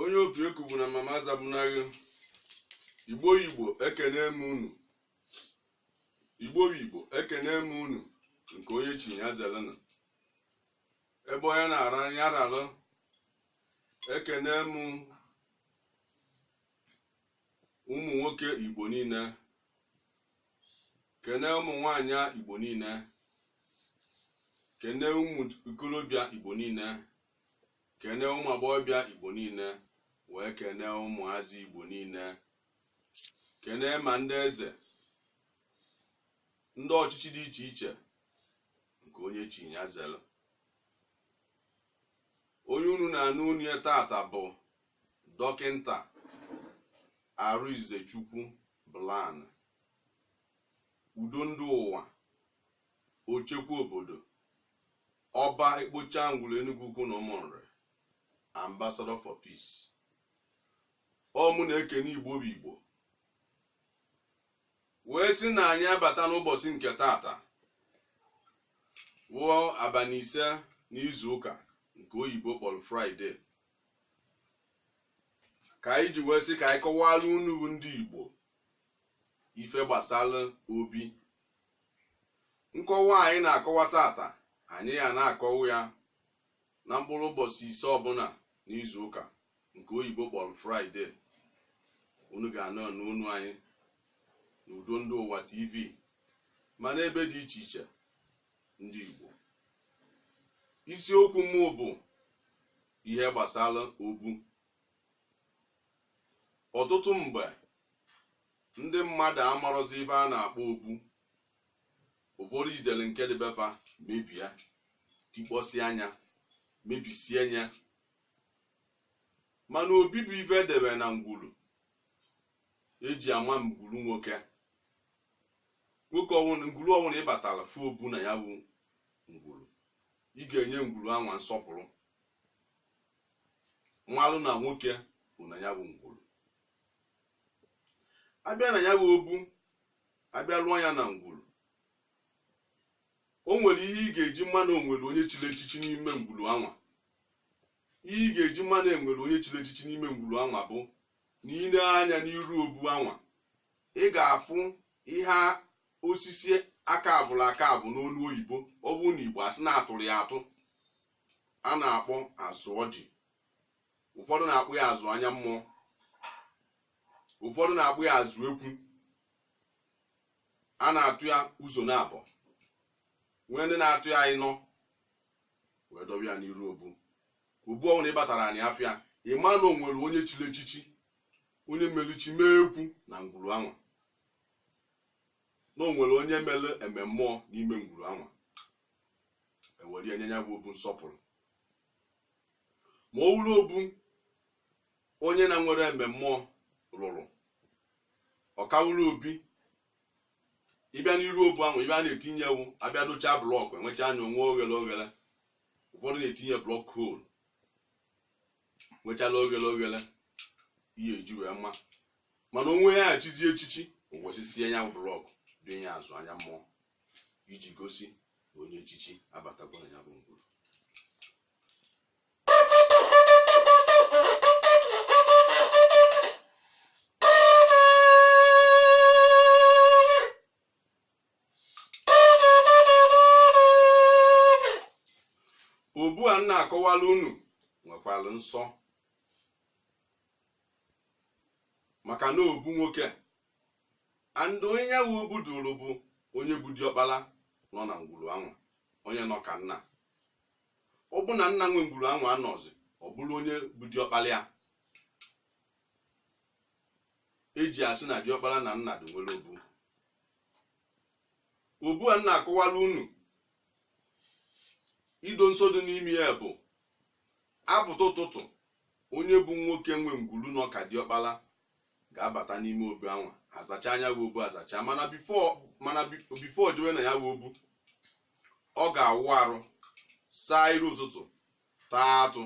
onye opi eku bụ na mama azabunaghi igbo igbo ekene m unu igbo igbo ekene m unu nke onye chi ya zelena ebe onye na-ara ya ralụ ekene m ụmụ nwoke igbo niile kene ụmụ nwanyị igbo niile kene ụmụ ikolobịa igbo niile kene ụmụ agbọghọbịa igbo niile wee kene ụmụazị igbo niile kene ma ndị eze ndị ọchịchị dị iche iche nke onye chi ya zelu onye unu na-anụ onu ya tata bụ Dọkịnta Arịnzechukwu Blan, Udo Ndị Ụwa, Ochekwa Obodo, Ọba Ekpocha Ngwulu Enugwu Ukwu na Ụmụnri, Ambassador for Peace. Ọ mụ na-ekene Igbo bụ Igbo wee sị na anyị abata n'ụbọsị nke tata wụ abanị ise n'izu ụka nke oyibo kpọlụ fraịde ka anyị ji wee sị ka anyị kọwara unu bụ ndị Igbo ife gbasara obi nkọwa anyị na-akọwa tata anyị ya na-akọwa ya na mkpụrụ ụbọsị ise ọbụna n'izu ụka nke oyibo kpọrọ fraịde unu ga na-anụ onu anyị n'udo ndị ụwa tv ma n'ebe dị iche iche ndị Igbo isiokwu mụ bụ ihe gbasara obu ọtụtụ mgbe ndị mmadụ amarọzi ife a na-akpọ obu ụfọdụ ijele nke dị be fa mebie tikpọsịa nya mebisịa nya mana obi bụ ife e debe na ngwulu e ji ama ngwuru nwoke nwoke ọwụna ngwuru ọwụna ị batara fụ obu na ya bụ ngwuru ị ga-enye ngwuru anwa nsọpụrụ malụ na nwoke bu na ya bụ ngwuru a bịa na ya bụ obu a bịa lụọ ya na ngwuru o nwere ihe ị ga-eji ma na o nwere onye chiri echichi n'ime ngwuru anwa Ihe ị ga-eji ma na e nwere onye chiri echichi n'ime ngwuru anwa bụ na i nee anya n'iru obu anwa ị ga-afụ ihe a- osisi a kaavụrụ akaavụ n'olu oyibo ọ bụrụ n'Igbo a sị na a tụrụ ya atụ a na-akpọ azụ ọjị ụfọdụ na-akpọ ya azụ anya mmụọ ụfọdụ na-akpọ ya azụ ekwu a na-atụ ya ụzọ naabọ nwee ndị na-atụ ya ịnọ wee dọwa ya n'iru obu obu ọ wụ na ị batara anị afụ ya ị ma na o nwere onye chiri echichi onye mere chi mee ekwu na ngwuru anwa na o nwere onye mere eme mmụọ n'ime ngwuru anwa ewere ya nye ya bụ obu nsọpụrụ ma ọ wụrụ obu onye na-enwerọ eme mmụọ rụrụ ọ ka wụrụ obi ị bịa n'iru obu ahụ ibe a na-etinye ewu abịa dochaa blọkụ emecha ya o nwee oghere oghere ụfọdụ na-etinye block hole nwechala oghere oghere ihe eji wee mma mana o nwe ya chizie echichi o wesisie ya bụ blọkụ doo ya azụ anya mmụọ iji gosi na onye echichi abatago na ya bụ ngwuru obu a m na-akọwara unu nwekwara nsọ maka na ọ bụ nwoke and onye ya bụ obu dịrị bụ onye bụ diọkpara nọ na ngwuru anwa onye nọ ka nna Ọ bụ na nna nwe ngwuru anwa anọzi, ọ bụrụ onye bụ diọkpara ya. Eji asị na diọkpara na nna dị nwere obu. Obu a m na-akọwara unu ihe dị nsọ dị n'ime ya bụ apụta ụtụtụ onye bụ nwoke nwe ngwuru nọ ka diọkpara ga-abata n'ime obu anwa azacha ya bụ obu azacha mana before o jewe na ya bụ obu ọ ga-awụ arụ saa iru ụtụtụ taa atụ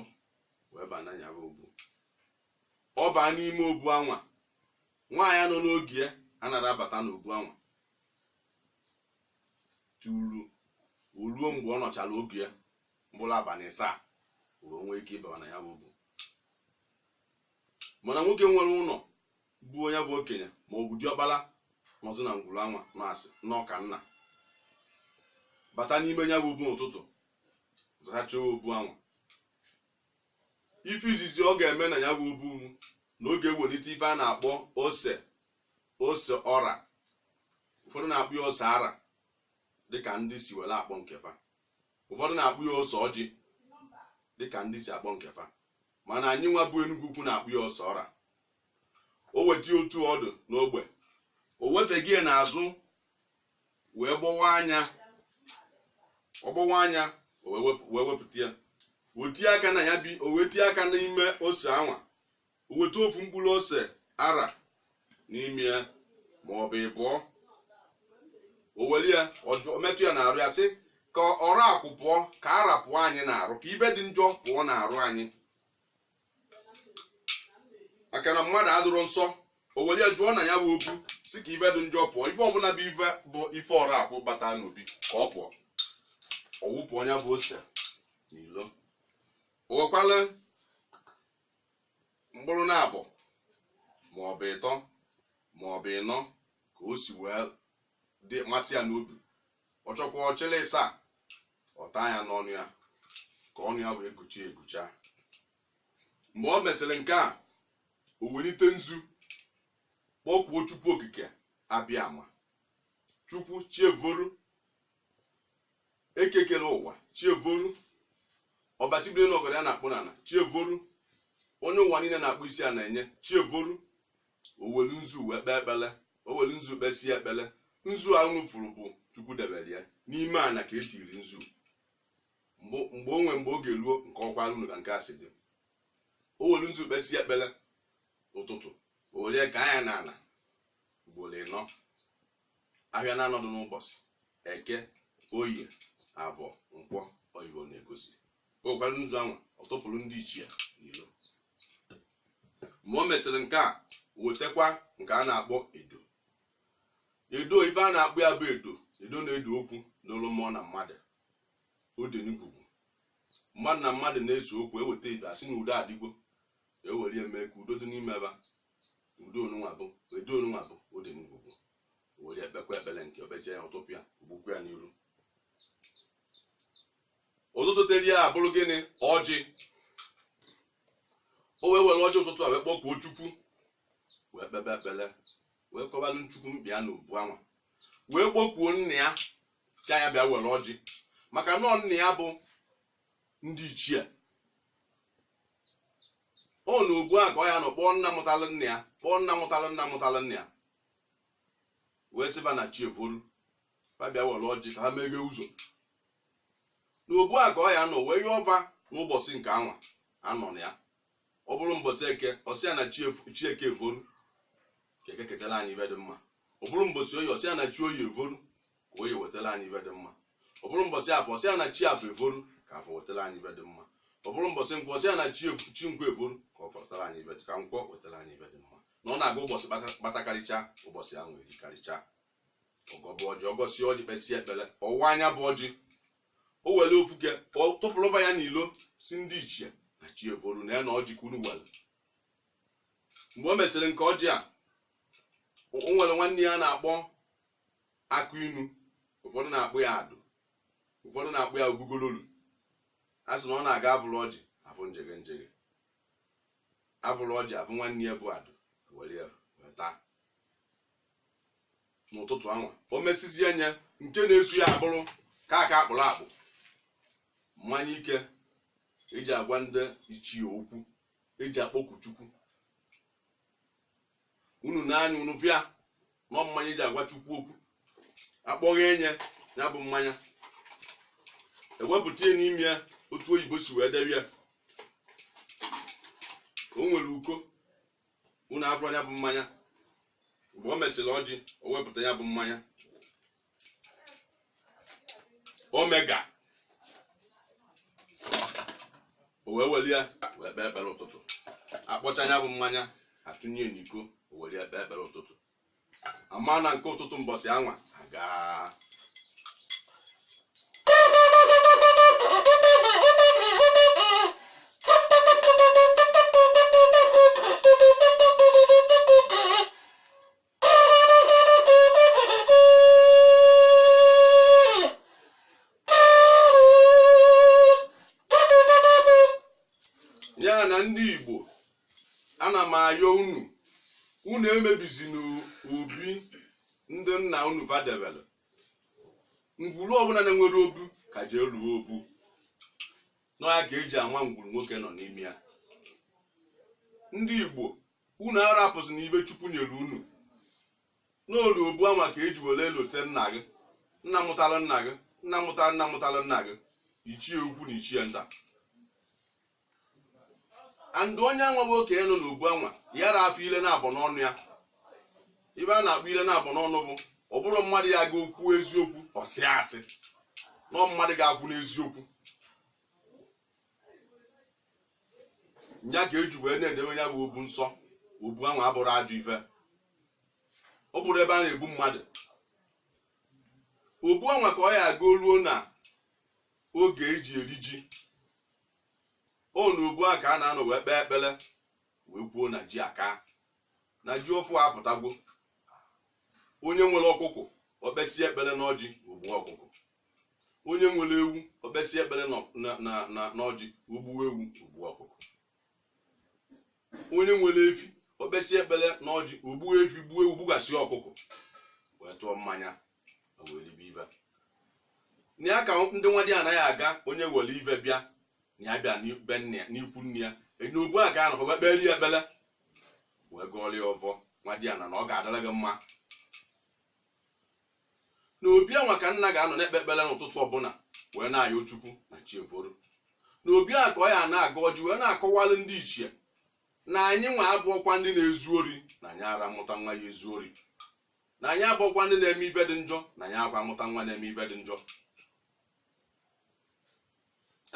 wee baa na ya bụ obu ọ baa n'ime obu anwa nwaanyị nọ n'oge ya anarọ abata n'obu anwa tutu o ruo mgbe ọ nọchara oge ya mkpụrụ abalị ịsaa wee nwee ike ịba na ya bụ obu mana nwoke nwere ụlọ bụ onye bụ okenye ma ọ bụ diọkpara nọzi na ngwuru anwa na-asị n'ọka nna bata n'ime ya bụ obu n'ụtụtụ zachaa obu anwa ife izizi ọ ga-eme na ya bụ obu na ọ ga-ewelite ife a na-akpọ ose ose ọra ụfọdụ na-akpọ ya ose ara dịka ndị si were akpọ nke fa ụfọdụ na-akpọ ya ose ọjị dịka ndị si akpọ nke fa mana anyịnwa bụ Enugu Ukwu na-akpọ ya ose ọra o weta otu ọ dụ n'ogbe o wefega ya n'azụ wee gbọwaa nya ọ gbọwaa nya o wee wepụ- wee wepụta ya o tie aka na ya bi o wee tie aka n'ime ose anwa o weta ofu mkpụrụ ose ara n'ime ya ma ọ bụ ịbụọ o were ya ọjụ- o metụ ya n'arụ ya sị ka ọra akwụ pụọ ka ara pụọ anyị n'arụ ka ife dị njọ pụọ n'arụ anyị maka na mmadụ adụrọ nsọ o were ya jụọ na ya bụ obu sị ka ife dị njọ pụọ ife ọbụla bụ ife bụ ife ọra akwụ bata n'obi ka ọ pụọ ọ wụpụọ ya bụ ose n'ilo o wekwalụ mkpụrụ naabọ ma ọ bụ ịtọ ma ọ bụ ịnọ ka o si wee dị masị ya n'obi ọ chọọkwa ọ chịlị ịsaa ọ taa ya n'ọnụ ya ka ọnụ ya wee guchi egucha mgbe ọ mesịrị nke a o welite nzu kpọkuo chukwu okike abịama chukwu chi evoru eke kele ụwa chi evoru ọbasi biri n'enu ọgọdọ ya na-akpụ n'ala chi evoru onye ụwa niile na-akpọ isi ana enye chi evoru o welụ nzu wee kpee ekpele o welụ nzu kpesie ekpele nzu a unu fụrụ bụ chukwu debere ya n'ime ana ka etiri nzu mgbe mgbe onwe mgbe oge ruo m kọwaara unu ka nke a si dị o welụ nzu kpesie ekpele ụtụtụ o welụ ya kaa nya n'ala ugboro ịnọ Ahịa naanọ dụ n'ụbọchị Eke, Oye, Avọ, Nkwọ ọ ife ọ na-egosi. O wekwara nzu anwa tụpụrụ ndị ichie n'ilo. Mgbe o mesịrị nke a wetakwa nke a na-akpọ edo. Edo ife a na-akpọ ya bụ edo edo na-edo okwu dụlụ mmụọ na mmadụ ọ dị na ngwugwu mmadụ na mmadụ na-ese okwu e weta edo a sị na udo adịgwo e were ya mee ka udo dị n'ime ebe a edo nunwa bụ edo nunwa bụ edo ngwugwu o were ya kpekwa ekpere nke o kpesịa ya ọ tụpụ ya o gbukwuo ya n'iru ọzọ sotere ya abụrụ gịnị ọjị o wee were ọjị ụtụtụ a wee kpọkuo chukwu wee kpebe ekpere wee kọbalụ chukwu mkpa ya n'obu anwa wee kpọkuo nna ya sị nya bịa were ọjị maka na ọ nna ya bụ ndị ichie ọ n'obu a ka ọ ya-anọ kpọọ nna mụtalụ nna ya kpọọ nna mụtalụ nna mụtalụ nna ya wee sị fa na chi eforu ha bịa were ọjị ka ha meghee ụzọ n'obu a ka ọ ya-anọ wee yọọ fa n'ụbọchị nke anwa a nọ na ya ọ bụrụ mbọsị eke ọ sị ya na chi efu- chi eke eforu ka eke ketara anyị ife dị mma ọ bụrụ mbọsị oye ọ sị ya na chi oye eforu ka oye wetara anyị ife dị mma ọ bụrụ mbọsị afọ sị ya na chi afọ eforu ka afọ wetara anyị ife dị mma ọ bụrụ mbọsị nkwọ sị ya na chi ebu- chi nkwọ eforu ka afọ wetara anyị ife dị- ka nkwọ wetara anyị ife dị mma na ọ na-aga ụbọchị kpata- kpatakarịcha ụbọchị ahụ erikarịcha ọ gọọ bụ ọjị ọ gọsịa ọjị kpesịa ekpere ọ waa nya bụ ọjị o were ofu oke ọ tụpụrụ fa ya n'ilo sị ndị ichie na chi eforu na ya na ọjị ka unu were mgbe o mesịrị nke ọjị a o o nwere nwanne ya na-akpọ akụ inu ụfọdụ na-akpọ ya adụ ụfọdụ na-akpọ ya ogugololu a sị na ọ na-aga abụrụ ọjị afụ njege njege abụrụ ọjị afụ nwanne ya bụ adụ were ya wee taa n'ụtụtụ anwa o mesizie nya nke na-eso ya abụrụ kaikai akpụrụ akpụ mmanya ike e ji agwa ndị ichie okwu e ji akpọku chukwu unu na-anya unu fụa na ọ mmanya e ji agwa chukwu okwu a kpọghee nya bụ mmanya e wepụta ya n'ime ya otu oyibo si wee debe ya o nwere iko unu agwụrụ ya bụ mmanya mgbe o mesịrị ọjị o wepụta ya bụ mmanya o meghe ya o wee weli ya wee kpee ekpere ụtụtụ a kpọcha ya bụ mmanya a tụnye n'iko o weli ya kpee ekpere ụtụtụ a ma na nke ụtụtụ mbọsị anwa agaa ya na ndị igbo ana m ayọ unu unu emebizina obi ndị nna unu fa debere ngwuru ọbụla na-enwerọ obu ka jee lụọ obu na ọ ya ka e ji ama ngwuru nwoke nọ n'ime ya ndị igbo Unu arapụzina ife Chukwu nyere unu. N'olu obu anwa ka e ji were lote nna gị, nna mụtara nna gị, nna mụtara nna mụtara nna gị, ichie ukwu na ichie nta. And onye anwa bụ okenye nọ n'obu anwa, ya ra afụ ile naabọ n'ọnụ ya. Ife a na-akpọ ile naabọ n'ọnụ bụ ọ bụrụ mmadụ ya ga okwu eziokwu, ọ sị asị. Nọ mmadụ ga-akwụ n'eziokwu. nya ka eji wee na-edebe ya bụ obu nsọ obu anwa abụrọ ajọ ife ọ bụrọ ebe a na-egbu mmadụ obu anwa ka ọ ya aga o ruo na oge eji eri ji ọ na obu a ka a na-anọ wee kpee ekpere wee kwuo na ji aka na ji ọfụụ apụtagwo onye nwere ọkụkụ ọ kpesịa ekpere n'ọjị o gbuo ọkụkụ onye nwere ewu ọ kpesịa ekpere n'ọ- na- na- na- n'ọjị o gbuo ewu gbuo ọkụkụ onye nwere efi ọ kpesịa ekpere n'ọjị o gbuo efi gbuo ewu gbugasịa ọkụkụ wee tụọ mmanya na wee ribe ife na ya ka ndị nwadiana ya aga onye were ife bịa na ya bịa n'ibe nne ya n'ikwu nne ya enye obu a ka a ga-anọkwa wee kpere ya ekpere wee gọọrọ ya ọvọ nwadiana na ọ ga-adịrị gị mma na obi anwa ka nna ga-anọ na-ekpe ekpere n'ụtụtụ ọbụla wee na-ayọ chukwu na chi foro na obi a ka ọ ya na-agọ ọjị wee na-akọwalụ ndị ichie na anyị nwa abụọkwa ndị na-ezu ori na anyị ara amụta nwa ya ezu ori na anyị abụọkwa ndị na-eme ife dị njọ na anyị akwa mụta nwa na-eme ife dị njọ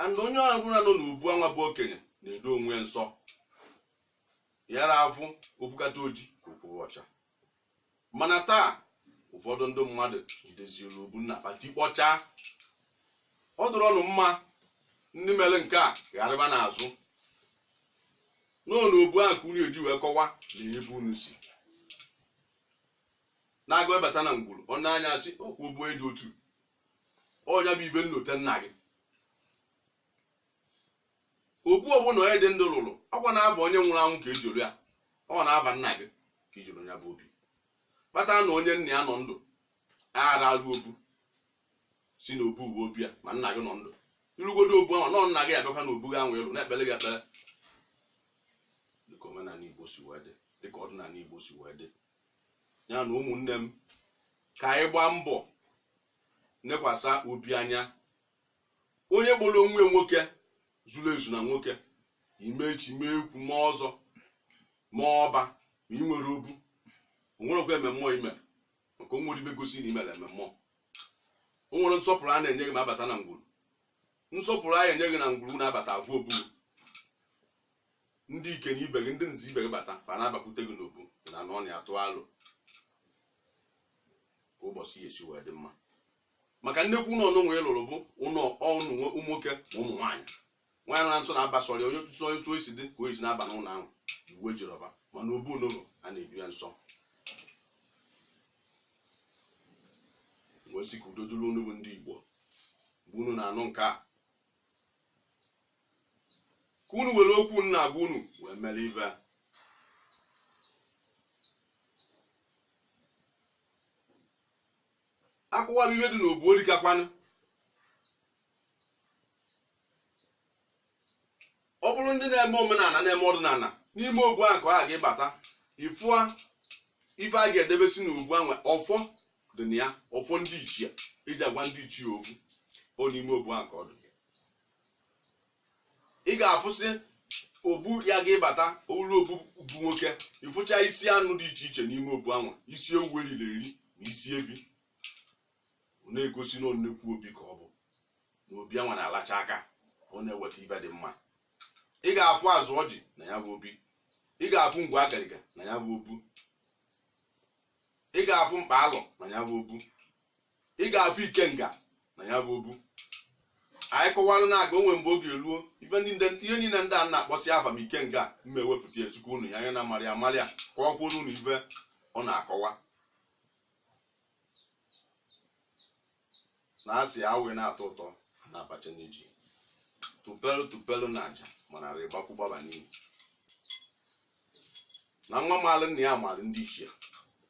and onye ọ bụla nọ n'obu anwa bụ okenye na-edo onwe ya nsọ ya ara afụ o kwukata oji ka o kwuru ọcha mana taa ụfọdụ ndị mmadụ jideziri obu nna fa tikpọchaa ọ dụrọ ọnụ mma ndị mere nke a gharịba n'azụ n'ọnụ obu ahụ ka unu eji wee kọwa na ebe unu si n'agụ abata na ngwuru ọ na-anya asị ọkwa obu eji otu ọ nya bụ ife nlote nna gị obu ọbụla onye dị ndụ lụrụ ọkwa n'afa onye nwụrụ anwụ ka e ji rụ ya ọ n'afa nna gị ka i ji rụ ya bụ obi kpata na onye nna ya nọ ndụ anara alụ obu si na obu bụ obi ya ma nna gị nọ ndụ ị rụgodu obu ahụ nọ nna gị abịakwa na obu gị anwa ị lụ na-ekpere gị ekpere dịka omenala igbo si wee dị dịka ọdịnala igbo si wee dị ya na ụmụnne m ka anyị gbaa mbọ nekwasa obi anya onye kpọrọ onwe ya nwoke zuru ezu na nwoke ị mee ichi mee ekwu mee ọzọ mee ọba ma ị nwere obu o nwerekwa ememme ị mere maka o nwere ibe gosi na ị mere ememme o nwere nsọpụrụ a na-enye gị ma abata na ngwuru nsọpụrụ a ya-enye gị na ngwuru na-abata afụ obu ndị ike na ibe gị ndị nze ibe gị bata fa na-abakwute gị n'obu na anụ ọnị atụ alo ka ụbọchị ya esi wee dị mma maka nnekwu ụlọ unu nwee lụrụ bụ ụlọ unu nwe- ụmụ nwoke ma ụmụ nwaanyị nwaanyị nọ na nso na-aba sọrọ ya onye tụsọ onye tụọ isi dị ka o esi na-aba n'ụlọ ahụ iwu ejiri ọba mana obu n'ụlọ a na-edo ya nsọ wee sị ka udo dịrị unu bụ ndị igbo mgbe unu na-anụ nke a ka unu were okwu m na-agwa unu wee mere ibe a. a kọwara ihe dị n'obu o rikakwanụ ọ bụrụ ndị na-eme omenala na-eme ọdịnala n'ime obu ahụ ka ị ga-abata ifụa ife a ga-edebesi n'obu ahụ ọfọ dị na ya ọfọ ndị ichie eji agwa ndị ichie okwu ọ n'ime obu ahụ ka ọ dị ị ga-afụsị obu ya gị bata olu obu bụ nwoke ị fụcha isi anụ dị iche iche n'ime obu anwa isi ewu eriri eri na isi evi ọ na-egosi na ọ nnekwu obi ka ọ bụ na obi anwa na-alacha aka ọ na-eweta ibe dị mma ị ga-afụ azụ ọjị na ya bụ obi ị ga-afụ ngwu agariga na ya bụ obu ị ga-afụ mkpa alọ na ya bụ obu ị ga-afụ ikenga na ya bụ obu anyị kọwara na a ga-enwe mgbe oge eruo ife ndị ndị- ihe niile ndị a na-akpọsị afa ma ikenga mụ ewepụta ya zikwuo unu ya anya na amarị amarị ya ka ọ kwụrụ unu ife ọ na-akọwa na asị awụ na-atọ ụtọ na-abacha n'iji tụpelụ tụpelụ na aja mana rịgbakwu gbaba n'iyi na nwa maalụ nna ya maalụ ndị ichie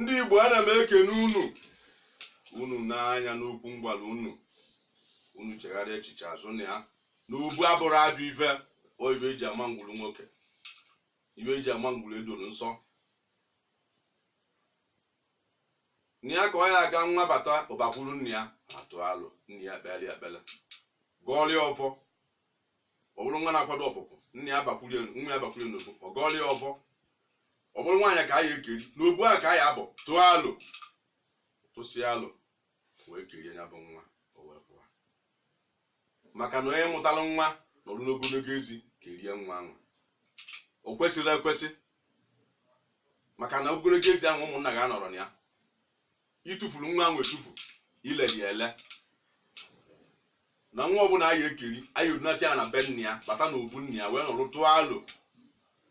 ndị igbo ana m ekene unu unu nee anya n'okwu m gwara unu unu chegharịa echiche azụ na ya na obu abụrụ ajọ ife ọ ibe eji ama ngwuru nwoke ibe eji ama ngwuru edoro nsọ na ya ka ọ ya aga nwa bata ọ bakwuru nna ya atụ alo nna ya kpeere ya ekpere gọọrọ ya ọfọ ọ bụrụ nwa na-akwado ọpụpụ nna ya abakwulie nwa ya abakwulie n'obu ọ gọọlụ ya ọfọ ọ bụrụ nwaanyị ka a ya ekeri n'obu a ka a ya abọ tụọ alo tụsịa alo wee kerie ya bụ nwa o wee pụọ maka na onye mụtara nwa nọrụ n'ogologo ezi kerie nwa ahụ o kwesịrị ekwesị maka na ogologo ezi ahụ ụmụnna ga-anọrọ na ya i tufuru nwa ahụ etufu i leli ya ele na nwa ọbụla a ya ekeri a ya edunata ya na be nna ya bata na obu nna ya wee nọrọ tụọ alo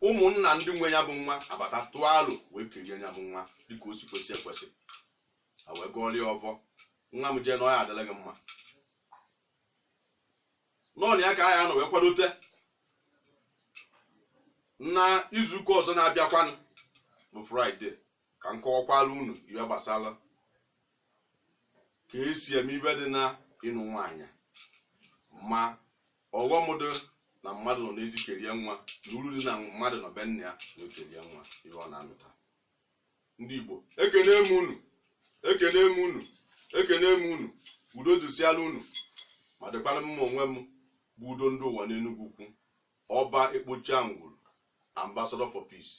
ụmụnna ndị nwe ya bụ nwa abata tụọ alo wee kerie ya bụ nwa dịka o si kwesị ekwesị a wee gọọrọ ya ọvọ nwa m jee na ọ ya adịlị gị mma n'ọnụ ya ka a ya anọ wee kwadote na izuụka ọzọ na-abịakwanụ bụ fraịde ka m kọwakwara unu ive gbasara ka e si eme ive dị na ịnụ nwaanyị ma ọghọm dị na mmadụ nọ n'ezi kerie nwa na uru dị na mmadụ nọ be nna ya na o kerie nwa ive ọ na-anụta ndị Igbo ekene m unu ekene m unu ekene m unu udo dịsịara unu ma dịkwara mụ onwe m bụ udo ndị ụwa n'Enugwu Ukwu Oba Ekpocha Angwulu, Ambassador for Peace,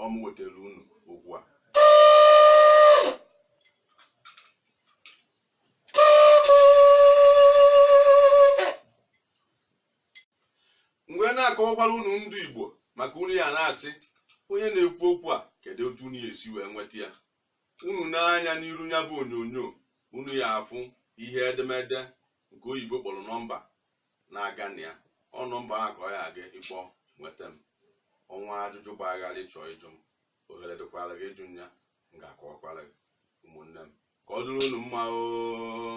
ọ mụ wetara unu okwu a. M wee na-akọwakwara unu ndị Igbo maka unu ya na-asị onye na-ekwu okwu a kedu otu unu ya esi wee nweta ya unu nee anya n'iru ya bụ onyonyo unu ya afụ ihe edemede nke oyibo kpọrọ nọmba na-aga na ya ọ nọmba ahụ ka ọ ya aga ịkpọ nweta m o nwee ajụjụ gbara gharị ị chọ ịjụ m ohere dịkwara gị ịjụ ya m ga-akọwakwara gị ụmụnne m ka ọ dịrị unu mma oo